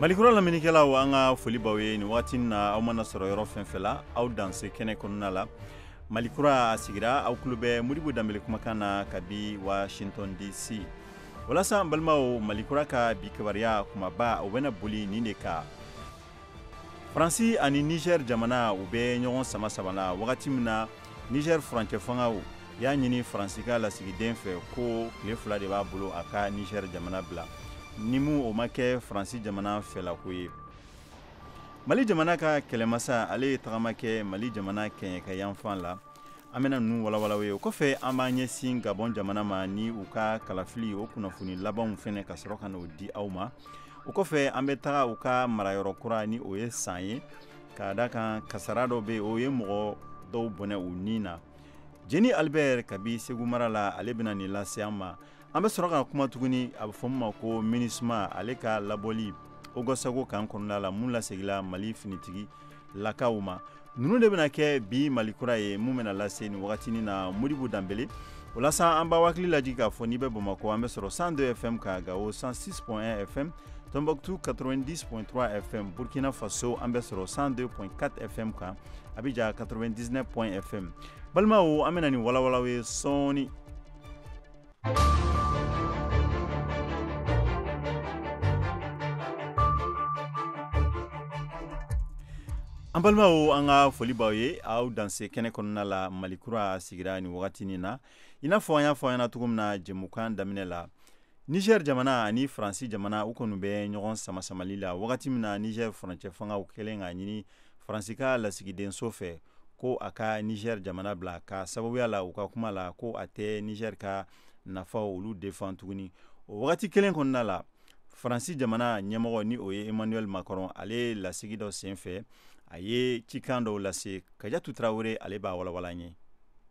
malikura lamɛnnikɛlaw an ka foli b'aw ye nin waati na aw mana sɔrɔ yɔrɔ fɛn fɛ la aw danse kɛnɛ kɔnɔna la malikura a sigira aw tulo bɛ modibo danbele kumakan na kabi washington dc walasa an balimaw malikura ka bi kibaruya kumaba o bɛna boli nin de kan faransi ani niger jamana u bɛ ɲɔgɔn sama sama la wagati min na niger furancɛ fangaw y'a ɲini faransi ka lasigiden fɛ ko tile fila de b'a bolo a ka niger jamana bila ni min o ma kɛ faransi jamana fɛlako ye mali jamana ka kɛlɛmasa ale ye tagama kɛ mali jamana kɛɲɛkayanfan la an bena nunu walawala aw ye o kɔfɛ an b'an ɲɛsin gabɔn jamana ma ni u ka kalafili o kunnafoni labanw fɛnɛ ka sɔrɔ ka n'o di aw ma o kɔfɛ an be taga u ka marayɔrɔ kura ni o ye san ye k'a da kan kasara dɔ be o ye mɔgɔ dɔw bɔnɛ u ni na jeni albɛr kabi segu mara la ale bena nin lase an ma an be sɔrɔ ka kuma tuguni a be fɔ min ma ko minusma ale ka labɔli ogosagu kan kɔnɔna la mun lasegila mali finitigi lakaw ma ninnu de bɛna kɛ bi malikura ye mun bɛna lase nin wagatini na modibo danbele o la sa an b'aw hakili lajigi k'a fɔ n'i bɛ bamakɔ an bɛ sɔrɔ 102 fm kan gawo 106.1 fm Tombouctou 90.3 FM, Burkina Faso an bɛ sɔrɔ 102.4 FM kan, Abidjan 99.1 FM. Balimaw an bɛna nin walawala aw ye sɔɔni An balimaw an ka foli b'aw ye aw danse kɛnɛ kɔnɔna la malikura a sigira nin wagati in na i n'a fɔ an y'a fɔ aw ɲɛna cogo min na jɛmukan daminɛ la nizɛri jamana ani faransi jamana u kɔni bɛ ɲɔgɔn sama samali la wagati min na nizɛri furancɛ fangaw kɛlen k'a ɲini Faransi ka lasigidenso fɛ ko a ka Niger jamana bila k'a sababuya la u ka kuma la ko a tɛ Niger ka nafaw olu defan tuguni o wagati kelen kɔnɔna la Faransi jamana ɲɛmɔgɔ ni o ye Emmanuel Macron ale lasigi dɔ senfɛ a ye cikan dɔw lase Kajatu Tarawele ale b'a walawala an ye.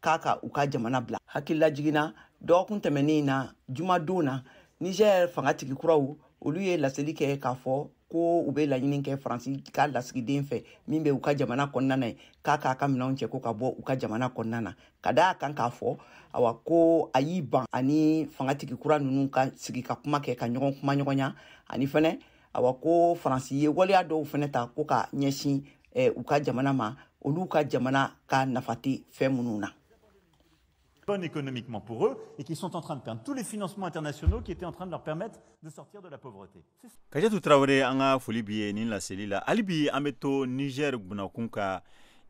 k'a ka u ka jamana bila hakililajigin na dɔgɔkun tɛmɛnen na jumadon na nizɛr fangatigi kuraw olu ye laseli kɛ k'a fɔ ko u bɛ laɲini kɛ faransi ka lasigiden fɛ min bɛ u ka jamana kɔnɔna na yen k'a k'a ka minɛnw cɛ ko ka bɔ u ka jamana kɔnɔna na k'a da a kan k'a fɔ awa ko a y'i ban a ni fangatigi kura ninnu ka sigi ka kuma kɛ ka ɲɔgɔn kumaɲɔgɔnya ani fɛnɛ awa ko faransi ye waleya dɔw fɛnɛ ta ko ka ɲɛsin eh, u ka jamana ma olu ka jamana ka nafa tɛ fɛn minnu na bonne économiquement pour eux et qui sont en train de perdre tous les financements internationaux qui étaient en train de leur permettre de sortir de la pauvreté. Kadiatou Traoré an ka foli bi ye nin laseli la. Hali bi an bɛ to Niger bunakun ka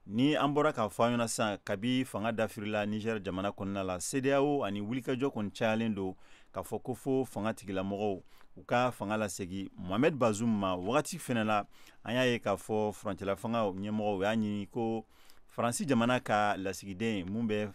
ni an bɔra k'a fɔ an ɲɛna sisan kabi fanga dafirila Niger jamana kɔnɔna la CEDEAO ani wulikajɔ kɔni cayalen don k'a fɔ ko fo fanga tigilamɔgɔw u ka fanga lasegi mohamed bazum ma wagati fɛnɛ la an y'a ye k'a fɔ furancɛla fanga ɲɛmɔgɔw y'a ɲini ko faransi jamana ka lasigiden mun bɛ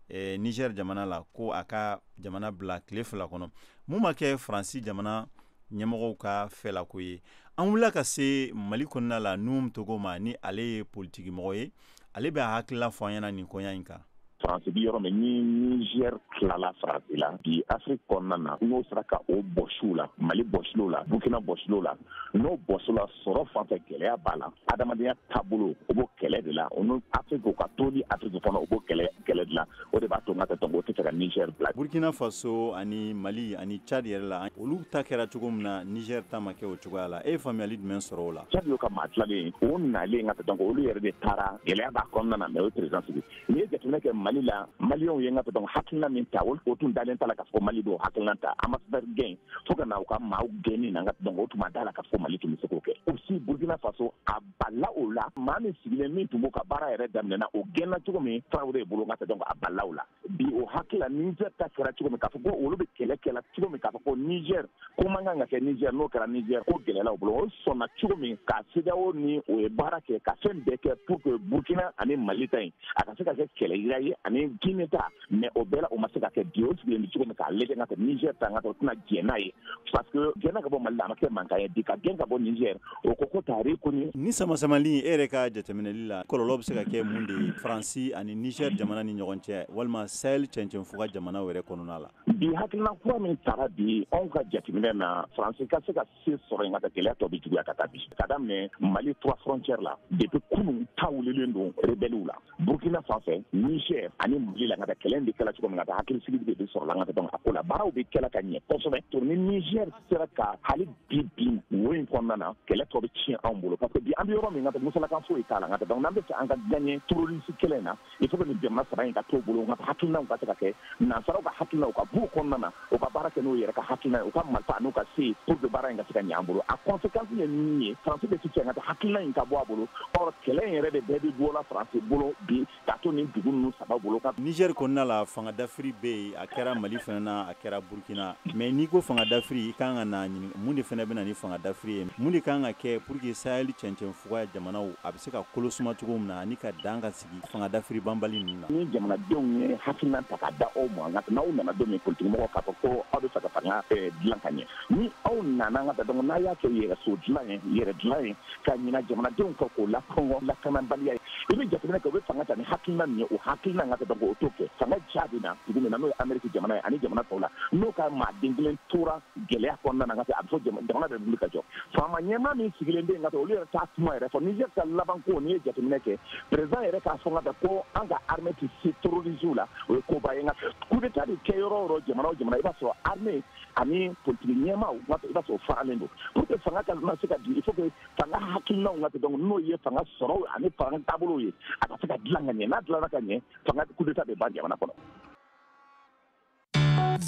eh, niger jamana la ko a ka jamana bila tile fila kɔnɔ mun ma kɛ faransi jamana ɲɛmɔgɔw ka fɛlako ye an wulila ka se mali kɔnɔna la nuhum togo ma ni ale ye politikimɔgɔ ye ale bɛ a hakilila fɔ an ɲɛna nin koɲa in kan faransi bi yɔrɔ min ni nizɛri tilala faransi la bi afiriki kɔnɔna na n'o sera ka o bɔsi u la mali bɔsil'u la burkina bɔsil'u la n'o bɔsila sɔrɔ fan fɛ gɛlɛya b'a la adamadenya taabolo o b'o kɛlɛ de la o n'o afiriki o ka toli afiriki kɔnɔ o b'o kɛlɛ de la o de b'a to ka tɔn o tɛ se ka niger bila burukina faso ani mali ani cadi yɛrɛ la olu ta kɛra cogo min na niger ta ma kɛ o cogoya la e ye faamuyali jumɛn sɔrɔ o la cadi ka maa tilalen o nalen ka tɔn olu yɛrɛ de taara gɛlɛya b'a kɔnɔna na mais o ye président sigi n'i ye jateminɛ kɛ mali la maliw ye ka tɔn hakilina min ta o tun dalen t'a la ka fɔ mali d'o hakilina ta ambassadeur gɛn fo ka na u ka maaw gɛnni na ka o tun ma da a la ka fɔ mali tun bɛ se k'o kɛ aussi burukina faso a bala o la maa min sigilen min tun b'o ka baara yɛrɛ daminɛna o gɛnna cogo min tarawele bolo ka tɛ donc a bala o la bi o hakilila niger ta kɛra cogo min k'a fɔ ko olu bɛ kɛlɛ kɛla cogo min k'a fɔ ko niger ko man kan ka kɛ niger n'o kɛra niger ko gɛlɛla u bolo o sɔnna cogo min ka cedeao ni o ye baara kɛ ka fɛn bɛɛ kɛ pour que burkina ani mali ta in a ka se ka kɛ kɛlɛyira ye ani guine ta mais o bɛɛ la o ma se ka kɛ bi o sigilen bɛ cogo min k'a lajɛ ka nizɛri ta ka tɛ o tɛna jɛn n'a ye parce que gɛnna ka bɔ mali la a ma kɛ mankan ye bi ka gɛn ka bɔ nizɛri o ko ko tari ko ni sama samali e yɛrɛ ka jateminɛli la kɔlɔlɔ bɛ se ka kɛ mun de ye faransi ani nizɛri jamana ni ɲɔgɔn cɛ walima sahel cɛncɛnfuga jamanaw yɛrɛ kɔnɔna la bi hakilina kura min tara bi anw ka jateminɛ na faransi ka se ka se sɔrɔ yen ka taa gɛlɛya tɔ bɛ juguya ka taa bi ka daminɛ mali trois frontière la depuis kunu ta wulilen don rebɛliw la burkina fan fɛ niger ani mali la ka taa kɛlɛ bɛ kɛla cogo min ka taa hakilisigi de bɛ sɔrɔla an ka taa donc a ko la baaraw bɛ kɛla ka ɲɛ kosɛbɛ to ni niger sera ka hali bi bin wo in kɔnɔna na kɛlɛ tɔ bɛ tiɲɛ anw bolo parce que bi an bɛ yɔrɔ min ka taa musalakan foyi t'a la ka taa donc n'an bɛ fɛ an ka gagner terroriste kɛlɛ in na il faut que nin jamana saba in ka t'o bolo ka taa hakilinaw ka se ka kɛ nansaraw ka hakilinaw ka b'u kɔnɔna na u ka baara kɛ n'u yɛrɛ ka hakilina ye u ka marifa n'u ka se pour que baara in ka se ka ɲɛ an bolo a conséquence ye min ye faransi bɛ sigi ka taa hakilina in ka bɔ a bolo or kɛlɛ in yɛrɛ de bɛɛ bɛ bɔ la faransi bolo bi ka to nin dugu ninnu saba bolo ka nizɛri kɔnɔna la fanga dafiri bɛ yen a kɛra mali fana na a kɛra burkina mais n'i ko fanga dafiri i kan ka na ɲini mun de fana bɛ na ni fanga dafiri ye mun de kan ka kɛ pour que sahel cɛncɛn Fugaya jamanaw a bɛ se ka kolo suma cogo min na ani ka dan ka sigi fanga dafiri banbali ninnu na. Ni jamanadenw ye hakilina ta ka da aw ma nka n'aw nana don min politikimɔgɔw k'a fɔ ko aw bɛ fɛ ka fanga eh, dilan ka ɲɛ ni aw nana ka taa donc n'a y'a kɛ yɛrɛ so dilan ye yɛrɛ dilan ye ka ɲina jamanadenw kɔ k'o lakɔngɔ lakanabaliya ye i bɛ jateminɛ kɛ u bɛ fanga ta ni hakilina min ye o hakilina ka taa donc o t'o kɛ fanga jaabi na dugu min na n'o ye ameriki jamana ye ani jamana tɔw la n'o ka maaden kelen tora gɛlɛya kɔnɔna na ka a bɛ fɔ jamana bɛ wuli ka jɔ faama ɲɛmaa min sigilen bɛ yen ka olu yɛrɛ t'a kuma yɛrɛ fɔ nizɛri ka laban ko n'i ye jateminɛ kɛ perezidan yɛrɛ k'a fɔ ka ko an ka armée tɛ se terroriziw la o ye koba ye nka coup d'état de kɛ yɔrɔ o yɔrɔ jamana o jamana i b'a sɔrɔ armée ani politiki ɲɛmaaw i b'a sɔrɔ o faralen don pour que fanga ka na se ka di il faut que fanga hakilinaw ka kɛ donc n'o ye fanga sɔrɔw ani fanga taabolow ye a ka se ka dilan ka ɲɛ n'a dilanna ka ɲɛ fanga coup d'état bɛ ban jamana kɔnɔ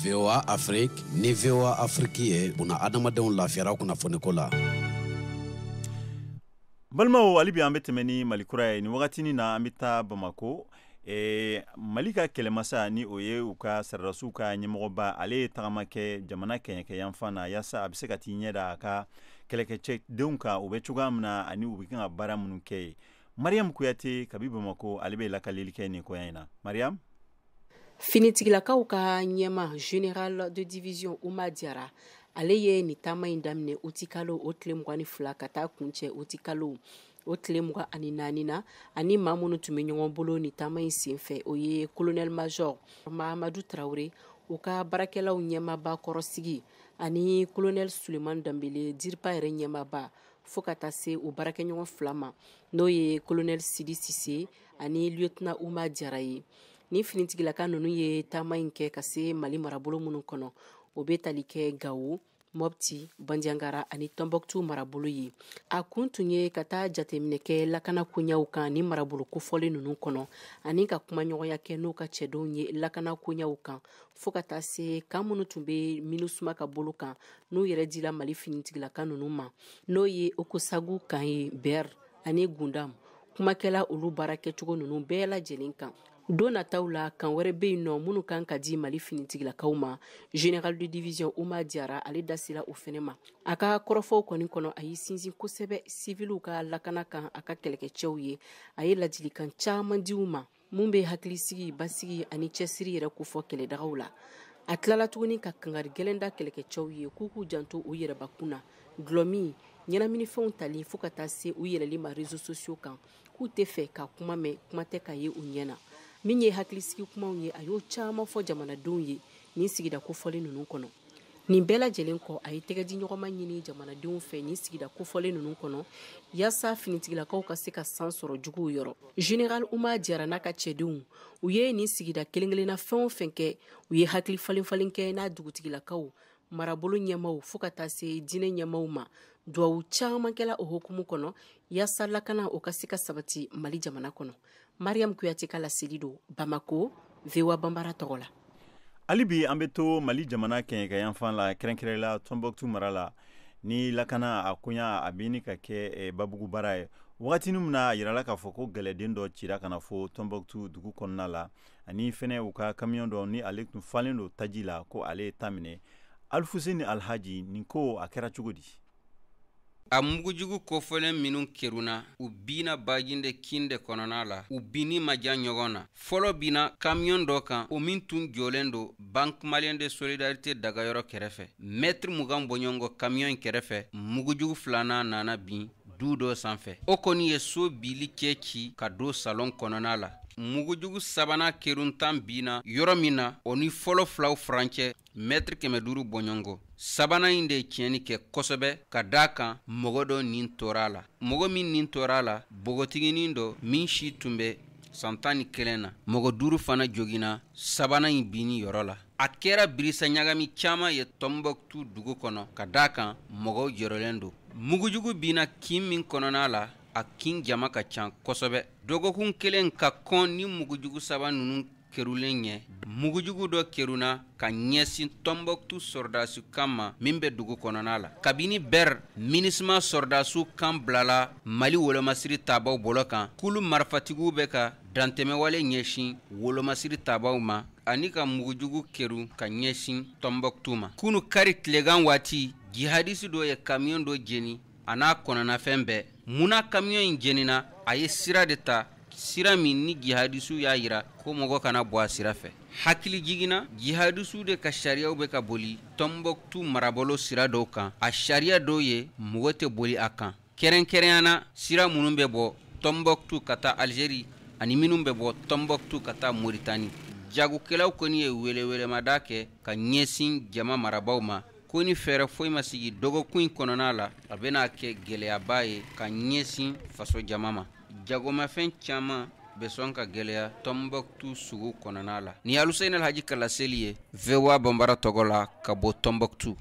voa afrique ni voa afrique ye buna adamadenw lafiyara kunnafoniko la balimaw hali bi an bɛ tɛmɛ ni mali kura ye nin wagatinin na an bɛ taa bamako e, mali ka kɛlɛmasa ni o ye u ka saradasiw ka ɲɛmɔgɔba ale ye tagama kɛ jamana kɛɲɛkɛ yanfan na yaasa a bɛ se ka t'i ɲɛ da a ka kɛlɛkɛcɛdenw kan u bɛ cogoya min na ani u bɛ kan ka baara minnu kɛ ye mariyamu kuyate kabi bamako ale bɛ lakaleli kɛ nin koya in na mariyamu finitigilakaw ka ɲɛmaa général de division uma diarra ale ye ni taama in daminɛ oti kalo o tile mugan ni fila ka taa kuncɛ oti kalo o tile mugan ani naani na ani maa minnu tun bɛ ɲɔgɔn bolo ni taama in senfɛ o ye kolonɛli mazɔri mahamadu tarawele u ka baarakɛlaw ɲɛmaba kɔrɔsigi ani kolonɛli suleman danbele dirpa yɛrɛ ɲɛmaba fo ka taa se u baarakɛɲɔgɔn fila ma n'o ye kolonɛli sidi sise ani lieutenant Uma Diarra ye. Ni finitigilaka ninnu ye taama in kɛ ka se Mali marabolo minnu kɔnɔ, o bɛ tali kɛ Gawo, Mopti, Bandiagara ani Tombouctou marabolo ye. A kun tun ye ka taa jateminɛ kɛ lakana koɲaw kan ni marabolo kofɔlen ninnu kɔnɔ ani ka kumaɲɔgɔnya kɛ n'u ka cɛdenw ye lakana koɲaw kan fo ka taa se kan minnu tun bɛ MINUSMA ka bolo kan n'u yɛrɛ dila Mali finitigilaka ninnu ma n'o ye Ogossagou kan ye Ber ani gundam kumakɛla olu baara kɛcogo ninnu bɛɛ lajɛlen kan don nataw la kan wɛrɛ bɛ yen nɔ minnu kan ka di mali finitigilakaw ma général de division uma diyara ale da sera o fɛnɛ ma a ka kɔrɔfɔw kɔni kɔnɔ a ye sinsin kosɛbɛ siviliw ka lakana kan a ka kɛlɛkɛcɛw ye a ye ladilikan caman di u ma min bɛ hakilisigi basigi ani cɛsiri yɛrɛ kofɔ kɛlɛdagaw la a tilala tuguni ka kangari gɛlɛn da kɛlɛkɛcɛw ye k'u k'u janto u yɛrɛbakun na dulɔmin ɲɛnaminifɛnw tali fo ka taa se u yɛlɛli ma rezo sosiyo kan k'u tɛ fɛ ka kuma mɛn kuma tɛ k'a ye u ɲɛ na min ye hakilisigi kumaw ye a y'o caman fɔ jamanadenw ye nin sigida kofɔlen ninnu kɔnɔ nin bɛɛ lajɛlen kɔ a ye tɛgɛdiɲɔgɔnma ɲini jamanadenw fɛ nin sigida kofɔlen ninnu kɔnɔ yaasa finitigilakaw ka se ka san sɔrɔ juguw yɔrɔ general uma jara n'a ka cɛdenw u ye nin sigida kelen kelenna fɛn o fɛn kɛ u ye hakili falen falen kɛ n'a dugutigilakaw marabolo ɲɛmaw fo ka taa se diinɛ ɲɛmaw ma duwawu caman kɛla o hokumu kɔnɔ yaasa lakana o ka se ka sabati mali jamana kɔnɔ mariam kuyate ka laseli don bamako voa banbara tɔgɔ la hali bi an bɛ to mali jamana kɛɲɛkayanfan la kɛrɛnkɛrɛn la tɔnbɔktu mara la ni lakana a koɲa a bɛ ɲini ka kɛ eh, babugu baara ye wagatini min na a yirala k'a fɔ ko gɛlɛden dɔ cira ka na fo tɔnbɔktu dugu kɔnɔna la ani fɛnɛ u ka kamiyɔn dɔ ni ale tun falen don taji la ko ale ye ta minɛ alifuseni alhaji nin ko a kɛra cogo di a mugujugu kofɔlen minw kerunna u binna bajinde kin de kɔnɔna la u binni ma jan ɲɔgɔn na fɔlɔ binna kamiyon dɔ kan o min tun jɔlen don bank maliyɛn de solidarite dagayɔrɔ kɛrɛfɛ mɛtiri mugan bɔɲɔgɔnko kamiyon in kɛrɛfɛ mugujugu filanan nana bin du dɔ sanfɛ o kɔni ye so bili cɛ ci ka don salɔn kɔnɔna la mugujugu sabanan kerunta binna yɔrɔ min na o ni fɔlɔ filaw furancɛ mɛtiri kɛmɛ duuru bɔɲɔgɔnko sabanan in de ye tiɲɛni kɛ kosɛbɛ ka d'a kan mɔgɔ dɔ nin tora a la mɔgɔ min nin tora a la bogotiginin dɔ min si tun bɛ san tan ni kelen na mɔgɔ duuru fana joginna sabanan in binni yɔrɔ la a kɛra birisa ɲagami caman ye tɔnbɔkutu dugu kɔnɔ ka d'a kan mɔgɔw jɔrɔlen don mugujugu binna kin min kɔnɔna la a kin jama ka ca kosɛbɛ dɔgɔkun kelen ka kɔn ni mugujugu saba ninnu kerulen ɲɛ mugujugu dɔ keruna ka ɲɛsin tɔnbɔktu sɔrɔdasiw kan ma min bɛ dugu kɔnɔna la kabini bɛr minisima sɔrɔdasiw kan bilala mali wolomasiri tabaaw bolo kan kulu marifatigiw bɛ ka dantɛmɛwale ɲɛsin wolomasiri tabaaw ma ani ka mugujugu keru ka ɲɛsin tɔnbɔktu ma kunu kari tilegan waati jihadisi dɔ ye kamiyɔn dɔ jeni a n'a kɔnɔnafɛn bɛɛ mun na kamiyɔn in jenina a ye sira de ta sira min ni jihadisiw y'a yira ko mɔgɔ kana bɔ a sira fɛ hakilijigin na jihadisiw de ka sariyaw bɛ ka boli tɔnbɔktu marabolo sira dɔw kan a sariya dɔw ye mɔgɔ tɛ boli a kan kɛrɛnkɛrɛnyana sira minnu bɛ bɔ tɔnbɔktu ka taa alizeri ani minnu bɛ bɔ tɔnbɔktu ka taa moritani jagokɛlaw kɔni ye welewelemada kɛ ka ɲɛsin jama marabaaw ma ko ni fɛɛrɛ foyi ma sigi dɔgɔkun in kɔnɔna la a bɛna kɛ gɛlɛyaba ye ka ɲɛsin faso jama ma jagomafɛn caman bɛ sɔn ka gɛlɛya tɔnbɔkutu sugu kɔnɔna la ni aluseyini alhaji ka laseli ye voa bambara tɔgɔ la ka bɔ tɔnbɔkutu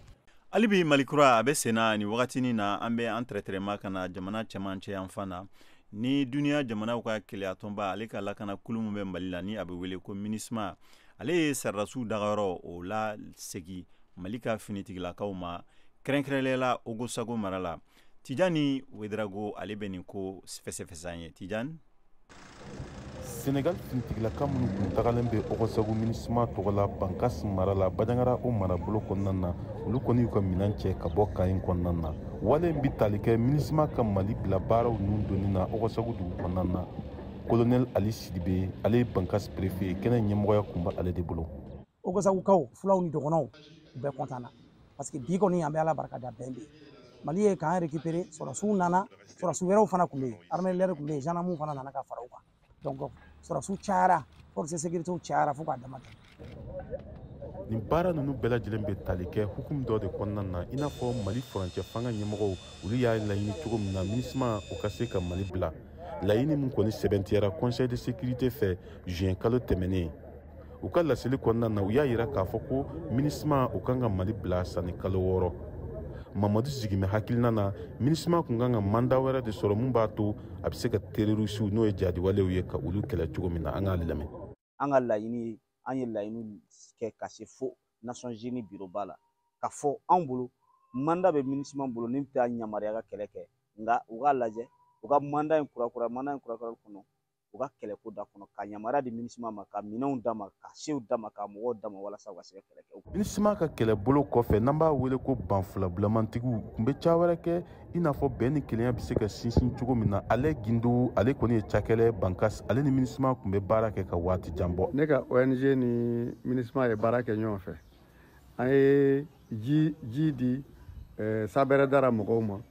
hali bi malikura a bɛ senna ni wagati nin na an bɛ an tɛrɛtɛrɛma ka na jamana cɛmancɛ yanfan na ni duniya jamanaw ka kelenyatɔnba ale ka lakana kulu min bɛ mali la ni a bɛ wele ko minisma ale ye sɔrɔdasiw dagayɔrɔ o lasegin mali ka finitigilakaw ma kɛrɛnkɛrɛnlenya la ogosago mara la tijani wederago ale bɛ nin ko fɛsɛfɛsɛ an ye tijani senegal finitigilaka minnu kun tagalen bɛ ogosago minisima tɔgɔ la bankas mara la bajangara o marabolo kɔnɔna na olu kɔni y'u ka minan cɛ ka bɔ camp in kɔnɔna na wale in bɛ tali kɛ minisima ka mali bila baaraw ninnu donni na ogosago dugu kɔnɔna na kolonɛl ali sidibe ale ye bankas perefe ye kɛnɛ ɲɛmɔgɔya kun bɛ ale de bolo ogosagokaw fulaw ni dɔgɔnɔw u bɛɛ content na parce que bi kɔni an bɛ ala barika da bɛn bɛ mali ye camp récupéré sɔrɔsiw nana sɔrɔsi wɛrɛw fana tun bɛ yen armée de l'air tun bɛ yen zandamu fana nana ka fara u kan donc sɔrɔsiw cayara force sécuritéw cayara fo ka dama tɛmɛ nin baara ninnu bɛɛ lajɛlen bɛ tali kɛ hukumu dɔ de kɔnɔna na i n'a fɔ mali furancɛ fanga ɲɛmɔgɔw olu y'a laɲini cogo min na minisima o ka se ka mali bila laɲini min kɔni sɛbɛntiyara conseil de sécurité fɛ juin kalo tɛmɛnen u ka laseli kɔnɔna na u y'a yira k'a fɔ ko minisima o kan ka mali bila sanni kalo wɔɔrɔ mamadu sigimɛ hakilina na minisima kun kan ka manda wɛrɛ de sɔrɔ min b'a to a bɛ se ka terorisiw n'o ye jadiwalew ye ka olu kɛlɛ cogo min na an k'ale lamɛn an ka laɲini ye an ye laɲini kɛ ka se fo nations unies biroba la k'a fɔ anw bolo manda bɛ minisima bolo nin t'a yamaruya ka kɛlɛ kɛ nka u k'a lajɛ u ka manda in kurakura manda in kurakura kɔnɔ u ka kɛlɛko d'a kɔnɔ ka yamaruya di minisima ma ka minɛnw d'a ma ka sew d'a ma ka mɔgɔw d'a ma walasa u ka se ka kɛlɛ kɛ minisima ka kɛlɛbolo kɔfɛ n'an b'a wele ko banfilabulamantigiw kun bɛ ca wɛrɛ kɛ i n'a fɔ bɛn ni kelenya bɛ se ka sinsin cogo min na ali gindo ale kɔni ye cakɛla ye bankas ale ni minisima kun bɛ baara kɛ ka waati jan bɔ ne ka ong ni minisima ye baara kɛ ɲɔgɔn fɛ an ye ji di eh, sabɛrɛdara mɔgɔw ma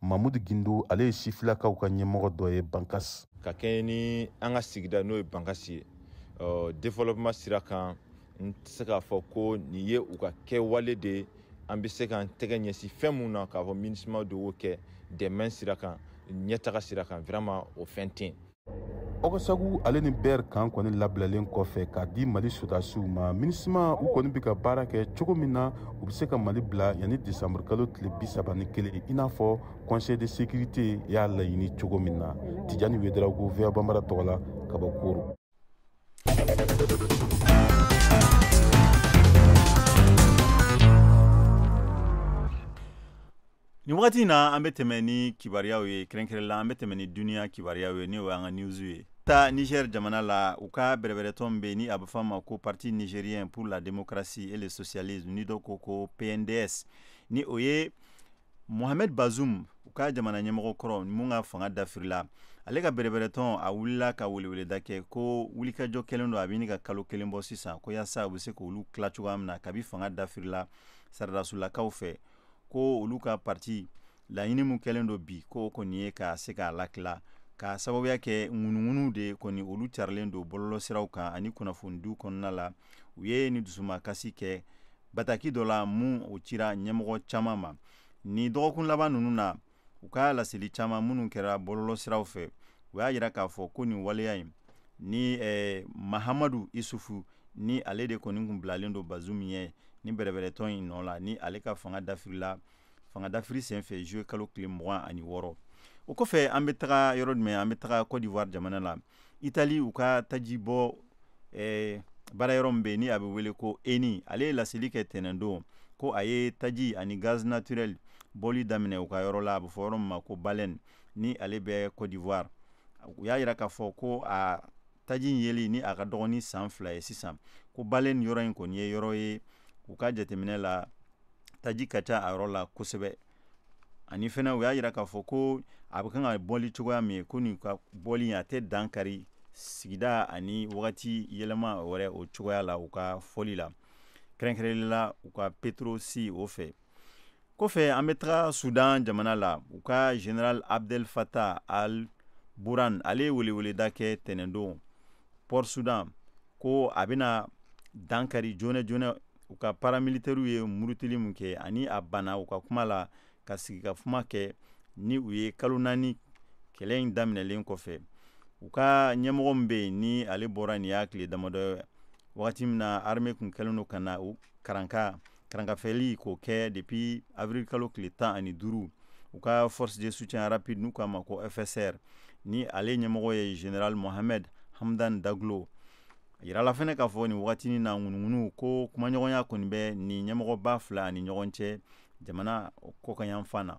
mamudu gindo ale ye sifilakaw ka ɲɛmɔgɔ dɔ ye bankas ka kɛɲɛ ni an ka sigida n'o ye bankas ye développement sira kan n tɛ se k'a fɔ ko nin ye u ka kɛwale de ye an bɛ se k'an tɛgɛ ɲɛsin fɛn min na k'a fɔ minisima de y'o kɛ dɛmɛ sira kan ɲɛtaga sira kan vraiment o fɛn tɛ yen ɔgɔsagu ale ni bɛr kan kɔni labilalen kɔfɛ k'a di mali sodasiw ma minusma u kɔni bɛ ka baara kɛ cogo min na u bɛ se ka mali bila yanni décembre kalo tile bi saba ni kelen i n'a fɔ conseil de sécurité y'a laɲini cogo min na tijani wedraogo voa banbara tɔgɔ la ka bɔ koro nin wagati in na an bɛ tɛmɛ ni kibariyaw ye kɛrɛnkɛrɛn la an bɛ tɛmɛ ni duniya kibariyaw ye n'o y'an ka news ye ta niger jamana la u ka bɛrɛbɛrɛtɔn bɛ ni a bɛ fɔ a ma ko parti nigérien pour la démocratie et le socialisme ni dɔ ko ko pnds ni o ye mohamed bazoum u ka jamana ɲɛmɔgɔ kɔrɔ mun ka fanga dafirila ale ka bɛrɛbɛrɛtɔn a wulila ka weleweleda kɛ ko wulikajɔ kɛlen don a bɛ ɲini ka kalo kelen bɔ sisan ko yaasa u bɛ se k'olu tila cogoya min na kabi fanga dafirila saradasulakaw fɛ ko olu ka parti laɲini min kɛlen don bi ko kɔni ye ka se k'a latila ka sababuya kɛ ŋunuŋunu de kɔni olu carilen don bɔlɔlɔsiraw kan ani kunnafonidiw kɔnɔna la u ye ni dusumakasi kɛ bataki dɔ la min o cira ɲɛmɔgɔ caman ma ni dɔgɔkun laban ninnu na u ka laseli caman minnu kɛra bɔlɔlɔ siraw fɛ u y'a jira k'a fɔ ko nin waleya in ni eh, mahamadu isufu ni ale de kɔni kun bilalen don bazum ɲɛ ni bɛrɛbɛrɛtɔn in nɔ la ni ale ka fanga dafirila fanga dafiri senfɛ juillet kalo tile mugan ani wɔɔrɔ o kɔfɛ an bɛ taga yɔrɔ jumɛn an bɛ taga cote d'ivoire jamana la itali u ka taji bɔ eh, baara yɔrɔ min bɛ yen ni a bɛ wele ko eni ale ye laseli kɛ tɛnɛndon ko a ye taji ani gaz naturel bɔli daminɛ u ka yɔrɔ la a bɛ fɔ yɔrɔ min ma ko baleine ni ale bɛ cote d'ivoire u y'a yira k'a fɔ ko a taji in yeli ni a ka dɔgɔ ni san fila ye sisan ko baleine yɔrɔ in kɔni ye yɔrɔ ye u ka jateminɛ la taji ka ca a yɔrɔ la kosɛbɛ ani fana u y'a jira k'a fɔ ko a bɛ kan ka bɔli cogoya min ye ko nin ka bɔli a tɛ dankari sigida ani wagati yɛlɛma wɛrɛ o cogoya la u ka fɔli la kɛrɛnkɛrɛnli la u ka petroci o fɛ kɔfɛ an bɛ taga sudan jamana la u ka general abdel fatah al burhan ale ye weleweleda kɛ tɛnɛndon port sudan ko a bɛna dankari joona joona u ka paramilitɛriw ye murutili min kɛ ani a banna u ka kuma la ka sigi ka kuma kɛ ni u ye kalo naani kɛlɛ in daminɛlen kɔfɛ u ka ɲɛmɔgɔ min bɛ yen ni ale bɔra nin y'a tile damadɔ ye wagati min na armée tun kɛlen don ka na u karanka karankafɛli k'o kɛ depuis avril kalo tile tan ani duuru u ka force de soutien rapide n'u k'a ma ko fsr ni ale ɲɛmɔgɔ ye general mohamed hamdan daglo a yirala fɛnɛ k'a fɔ nin wagati in na ŋunuŋunu ko kumaɲɔgɔnya kɔni bɛ nin ɲɛmɔgɔba fila ani ɲɔgɔn cɛ jamana kɔkan yanfan na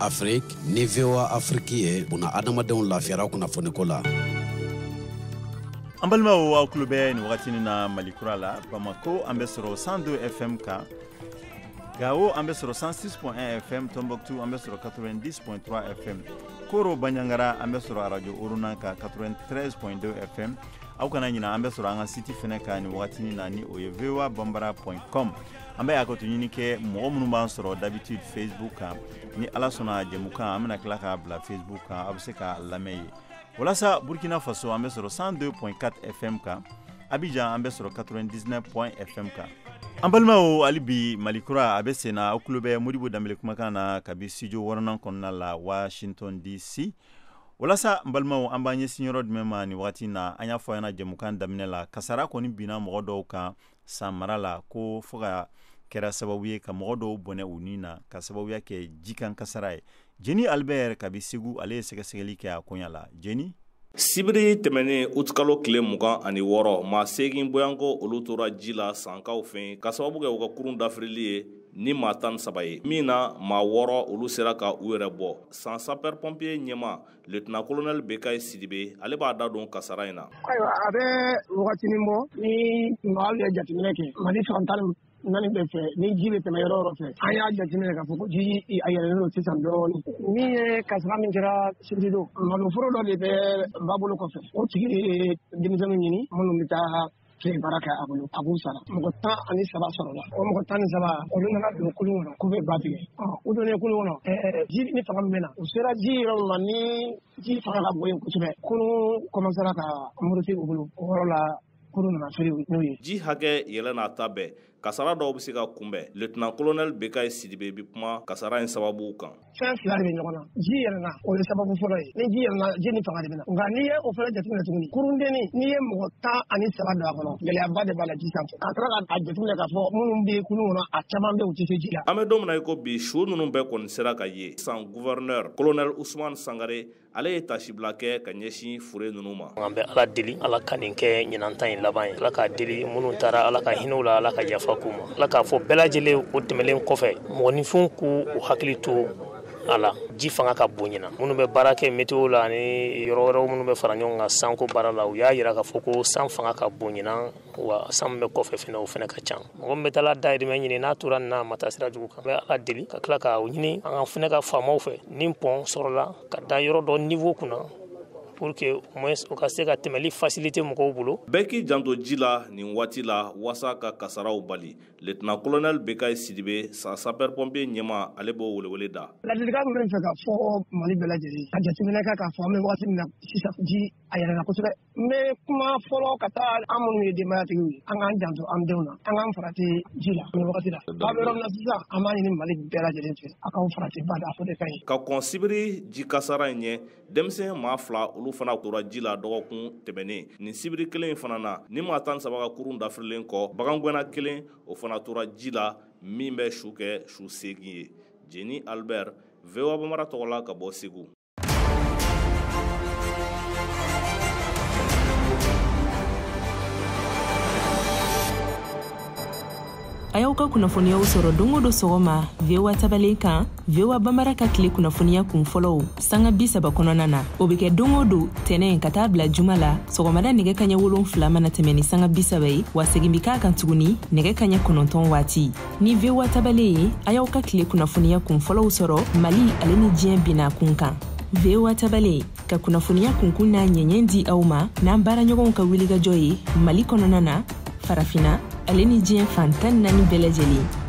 Afrique ni VOA Afrique ye buna adamadenw lafiyara kunnafoniko la. An balimaw aw tulo bɛ nin wagati na Mali kura la Bamako an bɛ sɔrɔ 102 FM kan Gawo an bɛ sɔrɔ 106.1 FM Tombouctou an bɛ sɔrɔ 90.3 FM koro bandiagara an bɛ sɔrɔ arajo orona kan 93.2 fm aw kana ɲina an bɛ sɔrɔ an ka siti fɛnɛ kan nin wagatini na ni o ye voa bambara point com an bɛ hakɛto ɲini kɛ mɔgɔ minnu b'an sɔrɔ d'habitude facebook kan ni ala sɔnna jɛmukan an bɛna tila k'a bila facebook kan aw bɛ se k'a lamɛn yen walasa burkina faso an bɛ sɔrɔ 102.4 fm kan abidjan an bɛ sɔrɔ 99.1 fm kan an balimaw hali bi mali kura a bɛ senna aw tulo bɛ modibo dembele kumakan na kabi studio wɔɔrɔnan kɔnɔna la washington dc walasa an balimaw an b'an ɲɛsin yɔrɔ jumɛn ma nin wagati na an y'a fɔ aw ɲɛna jɛmukan daminɛ la kasara kɔni binna mɔgɔ dɔw kan san mara la ko fo ka kɛra sababu ye ka mɔgɔ dɔw bɔnɛ u ni na ka sababuya kɛ jikan kasara ye jeni albert kabi segu ale ye sɛgɛsɛgɛli kɛ a koɲa la jeni sibiri tɛmɛnen utikalo tile mugan ani wɔɔrɔ maa seegin boyanko olu tora ji la sankaw fɛ ka sababu kɛ u ka kurun dafirili ye ni maa tan saba ye min na maa wɔɔrɔ olu sera ka u yɛrɛ bɔ san sapɛri pɔnpiye ɲɛmaa letina kolonɛli bekayi sidibe ale b'a da don kasara in na ayiwa a bɛ wagatinin bɔ ni maa ye jateminɛ kɛ mali fan tan naani bɛɛ fɛ ni ji bɛ tɛmɛ yɔrɔ yɔrɔ fɛ an y'a jateminɛ k'a fɔ ko ji a yɛlɛlen don sisan dɔɔnin min ye kasara min kɛra sibiri don maloforo dɔ de bɛ ba bolo kɔfɛ o tigi ye denmisɛnninw ɲini minnu bɛ taa tile baara kɛ a bolo a b'u sara mɔgɔ tan ani saba sɔrɔla o mɔgɔ tan ni saba olu nana don kulun kɔnɔ k'u bɛ ba tigɛ u donnen kulun kɔnɔ ji ni fanga min bɛ na u sera ji yɔrɔ min ma ni ji fanga ka bon yen kosɛbɛ kulun kɔmansera ka muruti u bolo o yɔrɔ la ji hakɛ yɛlɛ n'a ta bɛɛ kasara dɔw bɛ se ka kunbɛn lieutenant colonel bekayi sidibe bɛ kuma kasara in sababuw kan fɛn fila de bɛ ɲɔgɔn na ji yɛlɛna o ye sababu fɔlɔ ye ni ji yɛlɛna ji ni fanga de bɛ na nka n'i ye o fana jateminɛ tuguni kurundennin n'i ye mɔgɔ tan ani saba don a kɔnɔ gɛlɛyaba de b'a la ji sanfɛ a taara ka jateminɛ k'a fɔ minnu bɛ kulun kɔnɔ a caman bɛ u tɛ se ji la an bɛ don min na i ko bi su ninnu bɛɛ kɔni sera ka ye san gouverneur colonel ousmane sangare ale ye tasibila kɛ ka ɲɛsin fure ninnu ma an bɛ ala deli ala ka nin kɛ ɲinan ta in laban ye ala k'a deli minnu taara ala ka hinɛ u la ala ka yafa k'u ma ala k'a fɔ bɛɛ lajɛlen o tɛmɛlen kɔfɛ mɔgɔninfinw k'u u hakili to a la ji fanga ka bon ɲinan minnu bɛ baara kɛ meteo la ani yɔrɔ wɛrɛw minnu bɛ fara ɲɔgɔn kan sanko baara la u y'a yira k'a fɔ ko san fanga ka bon ɲinan wa san bɛ kɔfɛ fɛnɛ o fɛnɛ ka ca mɔgɔ min bɛ taa dayirimɛ ɲini n'a tora n'a ma taa sira jugu kan bɛ ala deli ka tila k'a ɲini an ka fɛnɛ ka faamaw fɛ ni pɔn sɔrɔla ka da yɔrɔ dɔ niwo kunna pour que au moins o ka se ka tɛmɛli fasilite mɔgɔw bolo bɛɛ k'i janto ji la nin waati la wasa ka kasaraw bali letna kolonɛli bekayi sidibe sa sapɛripɔnpe ɲɛmaa ale b'o welewele da ladilikan min bɛ fɛ ka fɔ mali bɛɛ lajɛlen ka jateminɛ kɛ k'a fɔ an bɛ waati min na sisan ji a yɛlɛla kosɛbɛ N bɛ kuma fɔlɔ ka taa an minnu ye denbayatigiw ye an k'an janto an denw na an k'an farati ji la nin wagati la ba bɛ yɔrɔ min na sisan an b'a ɲini mali bɛɛ lajɛlen fɛ a k'aw farati ba da fo de ka ɲi ka kɔn sibiri ji kasara in ɲɛ denmisɛn maa fila olu fana tora ji la dɔgɔkun tɛmɛnen nin sibiri kelen in fana na ni maa tan saba ka kurun dafirilen kɔ bagangɛnna kelen o fana tora ji la min bɛ su kɛ su seegin ye jeni albert voa bamara tɔgɔ la ka bɔ segu a y'aw ka kunnafoniyaw sɔrɔ don o don sɔgɔma voa tabalen kan voa bambara ka tile kunnafoniya kun fɔlɔw sanga bi saba kɔnɔna na o be kɛ don o don tɛnɛn ka taa bila juma la sɔgɔmada nɛgɛ kaɲɛ wolon fila mana tɛmɛ ni sanga bi saba ye wa segin be k'a kan tuguni nɛgɛ kaɲɛ kɔnɔntɔn waati ni voa tabale ye a y'aw ka tile kunnafoniya kun fɔlɔw sɔrɔ mali ale ni diɲɛ bina kun kan voa tabale ka kunnafoniya kunkun n'a ɲɛɲɛ di aw ma n'an baaraɲɔgɔnw ka wulikajɔ ye mali kɔnɔna na farafina ale ni diɲɛ fan tan naani bɛɛ lajɛlen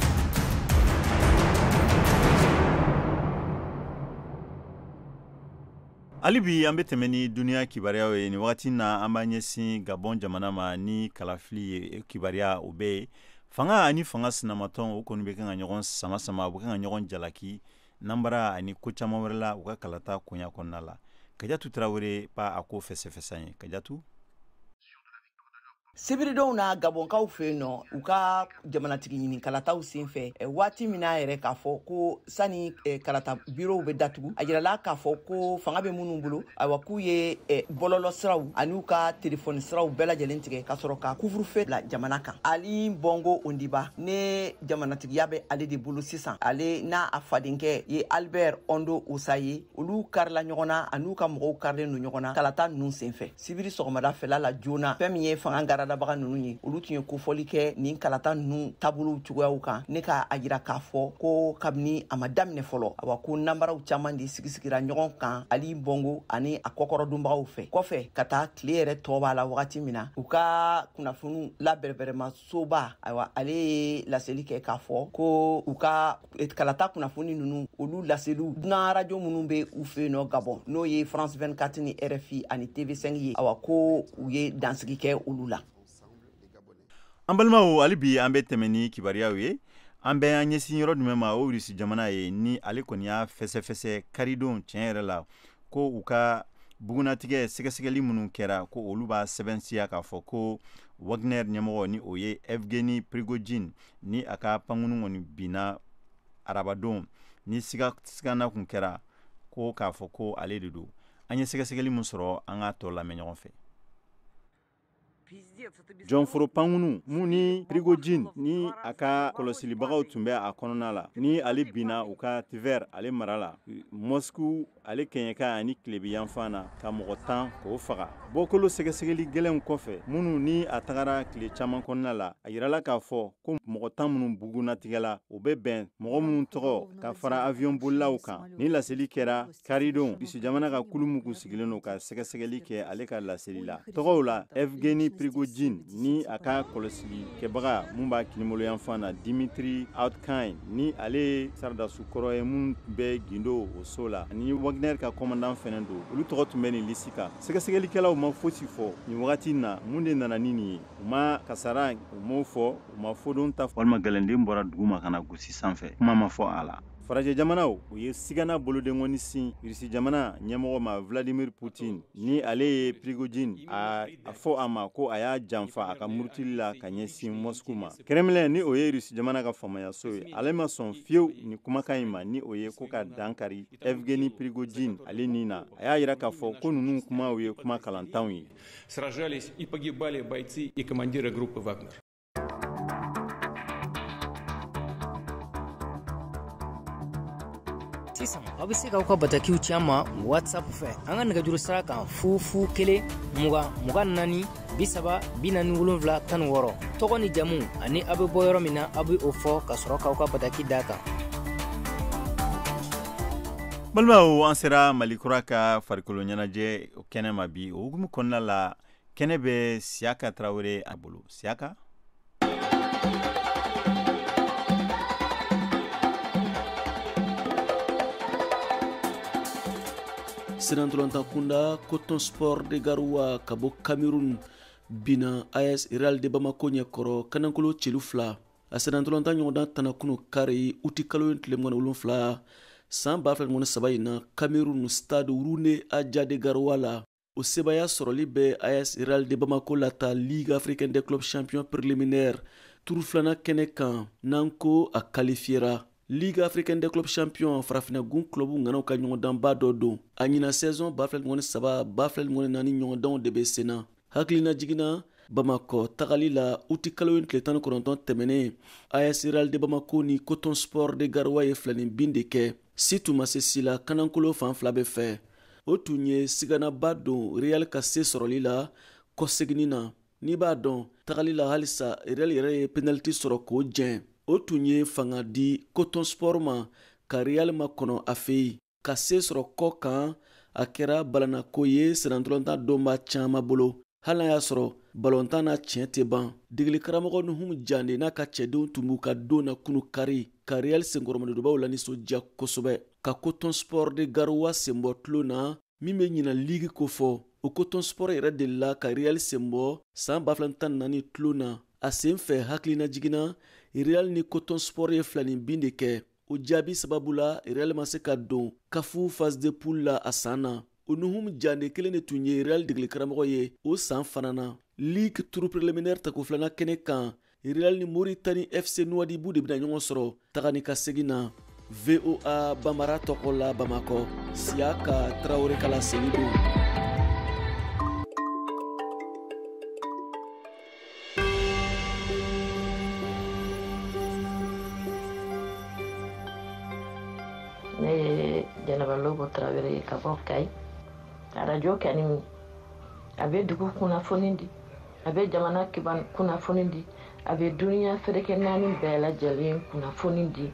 hali bi an be tɛmɛ ni duniɲa kibaruyaw ye nin wagati na an b'a ɲɛsin gabɔn jamana ma ni kalafili ye kibariya o be ye fanga ani fanga sinamatɔn o kɔni bɛ kan ka ɲɔgɔn sama sama u bɛ kan ka ɲɔgɔn jalaki nanbara ani ko caman wɛrɛ la u ka kalata koɲa kɔnɔna la kajatu tarawele b'a ko fɛsɛfɛs'an ye kajatu sibiridon na gabɔnkaw fɛ yen nɔ u ka jamanatigi ɲini kalataw sen fɛ waati min n'a yira k'a fɔ ko sani eh, kalata birow bɛ datugu a jirala k'a fɔ ko fanga bɛ minnu bolo ayiwa k'u ye eh, bɔlɔlɔ siraw an'u ka telefɔni siraw bɛɛ lajɛlen tigɛ ka sɔrɔ ka couvre-feu bila jamana kan ali bɔngo ondimba ne jamanatigiya bɛ ale de bolo sisan ale n'a fadenkɛ ye albert ondo ossa ye olu karila ɲɔgɔn na an'u ka mɔgɔw karilen don ɲɔgɔn na kalata ninnu senfɛ sibiri sɔgɔmada fɛla la joona fɛn min ye fanga garadabaga nunu ye olu tun ye kofɔli kɛ nin kalata nunu taabolow cogoyaw kan ne ka a yira k'a fɔ ko kabini a ma daminɛ fɔlɔ awa ko nanbaraw caaman de sigisigira ɲɔgɔn kan ali bɔngo ani a kɔkɔrɔdonbagaw fɛ kɔfɛ ka taa tile yɛrɛ tɔ b'a la wagati min na u ka kunnafoniw labɛrɛbɛrɛma soba ayiwa ale ye laseli kɛ k'a fɔ ko u ka eh, kalata kunnafoni ninnu olu laseliw dunan arajo minnu bɛ u fɛ nɔ gabɔn n'o ye france 24 ni rfi ani tv5 ye awa ko u ye dansigi kɛ olu la an balimaw hali bi an be tɛmɛ ni kibaruyaw ye an bɛ an ɲɛsin yɔrɔ jumɛn ma o rusi jamana ye ni ale kɔni y'a fɛsɛfɛsɛ karidon tiɲɛ yɛrɛ la ko u ka bugunnatigɛ sɛgɛsɛgɛli minnu kɛra ko olu b'a sɛbɛnsiya k'a fɔ ko wagner ɲɛmɔgɔ ni o ye evgeni prigojin ni a ka pankunu kɔni binna arabadon ni siganna kun kɛra ko k'a fɔ ko ale de don an ye sɛgɛsɛgɛli min sɔrɔ an k'a tɔ lamɛn ɲɔgɔn fɛ jɔnforo pankunu mun ni prigojin ni a ka kɔlɔsilibagaw tun bɛ a kɔnɔna la ni ale binna u ka tver ale mara la mɔsku ale kɛɲɛka ani tilebiyanfan na ka mɔgɔ tan k'o faga bɔkolo sɛgɛsɛgɛli gɛlɛnw kɔfɛ minnu ni a tagara tile caman kɔnɔna la a yirala k'a fɔ ko mɔgɔ tan minnu bugunnatigɛla u bɛ bɛn mɔgɔ minnu tɔgɔ ka fara aviyɔn bolilaw kan ni laseli kɛra Karidon rusi jamana ka kulu min sigilen don ka sɛgɛsɛgɛli kɛ ale ka laseli la tɔgɔw la evgeni prigojin ni a ka kɔlɔsili kɛbaga min b'a kiniboloyanfan na dimitri outkin ni ale ye saradasi kɔrɔ ye min bɛ gundo o so la ani wagner ka kɔmandan fana don olu tɔgɔ tun bɛ nin lisi kan sɛgɛsɛgɛlikɛlaw ma fosi fɔ nin wagati in na mun de nana ni nin ye u ma kasara u m'o fɔ u ma fodon ta walima gɛlɛnden bɔra dugu ma ka n'a gosi sanfɛ kuma ma fɔ a la farajɛ jamanaw u ye sigana bolodenkɔni sin irisi jamana ɲɛmɔgɔ ma vladimir putin ni ale ye prigojin a a fɔ a ma ko a y'a janfa a ka murutili la ka ɲɛsin mɔsku ma kremlin ni o ye irisi jamana ka faamayaso ye ale ma sɔn fewu nin kumakan in ma ni o ye ko ka dankari evgeni prigojin ale ni na a y'a yira k'a fɔ ko ninnu kumaw ye kuma kalantanw ye sisan aw bɛ se k'aw ka batakiw ci an ma whatsapp fɛ an ka nɛgɛjuru sira kan fu fu kelen mugan mugan naani bi saba bi naani wolonfila tan ni wɔɔrɔ tɔgɔ ni jamu ani aw bɛ bɔ yɔrɔ min na aw bɛ o fɔ ka sɔrɔ k'aw ka bataki d'a kan balimaw an sera mali kura ka farikolo ɲɛnajɛ kɛnɛ ma bi o hukumu kɔnɔna la kɛnɛ bɛ siyaka tarawele a bolo siyaka sennantolatan kunda coton sport de garoua ka bɔ cameroun bina as real de bamako ɲɛ kɔrɔ kanankolo celu fila a sennantolatan ɲɔgɔndan tanna kunun kari uti kalo in tile mugan ni wolonfila san ba fila ni mugan ni saba in na cameroun stade roumdé adjia de garoua la o sebaya sɔrɔli bɛ as real de bamako lata ligue africaine des clubs champion préliminaire turu filana kɛnɛ kan n'an ko a kalifiyera ligue africaine des clubs champion farafinagun clubu ŋanaw ka ɲɔgɔndanba dɔ don a ɲinan saison ba fila mugan ni saba ba fila mugan ni naani ɲɔgɔndanw de bɛ senna hakilinajigin na bamakɔ tagali la uti kalo tile tan ni kɔnɔntɔn tɛmɛnen as real de bamako ni coton sport de garoua ye filanin bin de kɛ si tun ma se si la kanankolo fan fila bɛɛ fɛ o tun ye siganaba don real ka se sɔrɔli la kɔseginni na n'i b'a dɔn tagali la halisa real yɛrɛ ye penaliti sɔrɔ k'o jɛn o tun ye fanga di coton sport ma ka real makɔnɔ a fɛ yen ka se sɔrɔ kɔ kan a kɛra balanako ye sennantolatan dɔnbaa caman bolo hali n'a y'a sɔrɔ balontan na tiɲɛ tɛ ban degeli karamɔgɔ nuhum jande n'a ka cɛdenw tun b'u ka don na kunu kari ka real senkɔrɔmadonbaw lanisɔndiya kosɛbɛ ka coton sport de garoua senbɔ tulon na min bɛ ɲinan ligi kofɔ o coton sport yɛrɛ delila ka real senbɔ saan 2014 tulon na a sen fɛ hakilinajigin na real ni coton sport ye filanin bin de kɛ o jaabi sababu la real ma se ka don kafu phase de poule la a saan na o nuhum jande kelen de tun ye real degilikaramɔgɔ ye o saan fana na ligue turu préliminaire tako filana kɛnɛ kan real ni moritani fc nuwadibu de bɛna ɲɔgɔn sɔrɔ taga ni ka segin na voa bambara tɔgɔ la bamakɔ siyaka tarawore ka laseli don ne ye jɛnɛba lobo tarawele ye ka bɔ kayi arajo ka ɲi a bɛ dugu kunnafoni di a bɛ jamana kiban kunnafoni di a bɛ duniya seleke naani bɛɛ lajɛlen kunnafoni di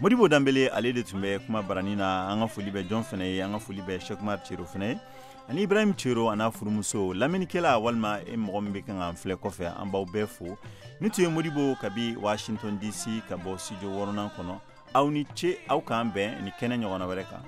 modibo danbele ale de tun bɛ kuma baranin na an ka foli bɛ jɔn fɛnɛ ye an ka foli bɛ sheki umar cero fɛnɛ ye ani ibrahim cero an'a furumuso lamɛnnikɛla walima e mɔgɔ min bɛ kan k'an filɛ kɔfɛ an b'aw bɛɛ fo nin tun ye modibo kabi washington dc ka bɔ studio wɔɔrɔnan kɔnɔ aw ni ce aw k'an bɛn ni kɛnɛ ɲɔgɔnna wɛrɛ kan